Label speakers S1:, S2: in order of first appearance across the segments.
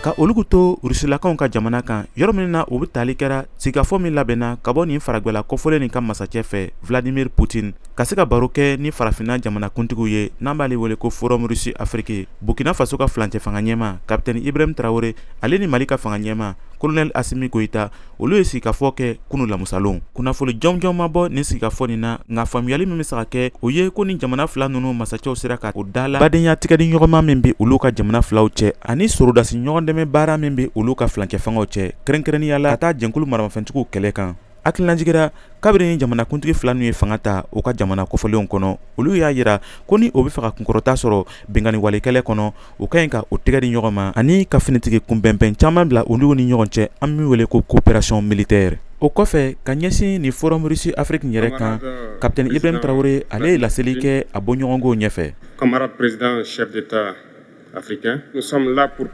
S1: ka olugu to rusilakaw ka jamana kan yɔrɔ min na u bɛ tali kɛra sigikafɔ min labɛnna ka bɔ nin faragwɛla kɔfɔlen nin ka masacɛ fɛ vladimir putin ka se ka baro kɛ ni farafinna jamanakuntigiw ye n'an b'ale wele ko forum rusi afiriki burkina faso ka filancɛ fanga ɲɛma kapitɛni ibrahim tarawele ale ni mali ka fanga ɲɛma kolonɛli asimi goyita olu ye sigikafɔ kɛ kunu lamusalon kunnafoli jɔnjɔn ma bɔ nin sigikafɔ nin na nka faamuyali min be se ka kɛ o ye ko ni jamana fila nunu masacɛw sera ka o dala badenya tigɛdi ɲɔgɔnma min be olu ka jamana filaw cɛ ani sorodasi ɲɔgɔn dɛmɛ baara min be olu ka filancɛ fangaw cɛ kɛrɛnkɛrɛnnenya la ka taa jɛnkulu maramafɛntigiw kɛlɛ kan hakililajigira kabiri ni jamanakuntigi fila nunu ye fanga ta u ka jamana kofɔlenw kɔnɔ olu y'a yira ko ni o be fɛ ka kunkɔrɔta sɔrɔ binkanniwale kɛlɛ kɔnɔ u ka ɲi ka u tɛgɛ di ɲɔgɔn ma ani ka finitigi kunbɛnbɛn caman bila olu ni ɲɔgɔn cɛ an bɛ min wele ko kopererasiyɔn militɛri o kɔfɛ ka ɲɛsin ni forum rusi afiriki yɛrɛ kan kapitɛni ibrahim tarawele ale ye laseli kɛ a bɔɲɔgɔnkow
S2: ɲɛfɛ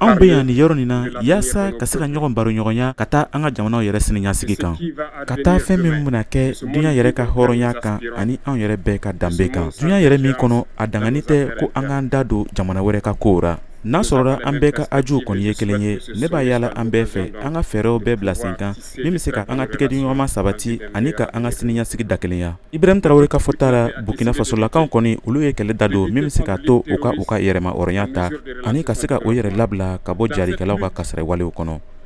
S2: anw bɛ yan nin yɔrɔ nin na
S1: yaasa ka se ka ɲɔgɔn baroɲɔgɔnya ka taa an ka jamanaw yɛrɛ siniɲɛsigi kan ka taa fɛn min bɛna kɛ duɲa yɛrɛ ka hɔrɔnya kan ani anw yɛrɛ bɛɛ ka danbe kan duɲa yɛrɛ min kɔnɔ a daganin tɛ ko an k'an da don jamana wɛrɛ ka kow ra n'a sɔrɔla an bɛɛ ka hajuw kɔni ye kelen ye ne b'a yaala an bɛɛ fɛ an ka fɛɛrɛw bɛɛ bila sen kan min bɛ se ka an ka tɛgɛdiɲɔgɔnma sabati ani ka an ka siniɲasigi dakelenya ibrahim tarawele ka fɔta la burkina fasolakaw kɔni olu ye kɛlɛ da don min bɛ se k'a to u ka u ka yɛrɛma hɔrɔnya ta ani ka se ka o yɛrɛ labila ka bɔ jarikɛlaw ka kasara walew kɔnɔ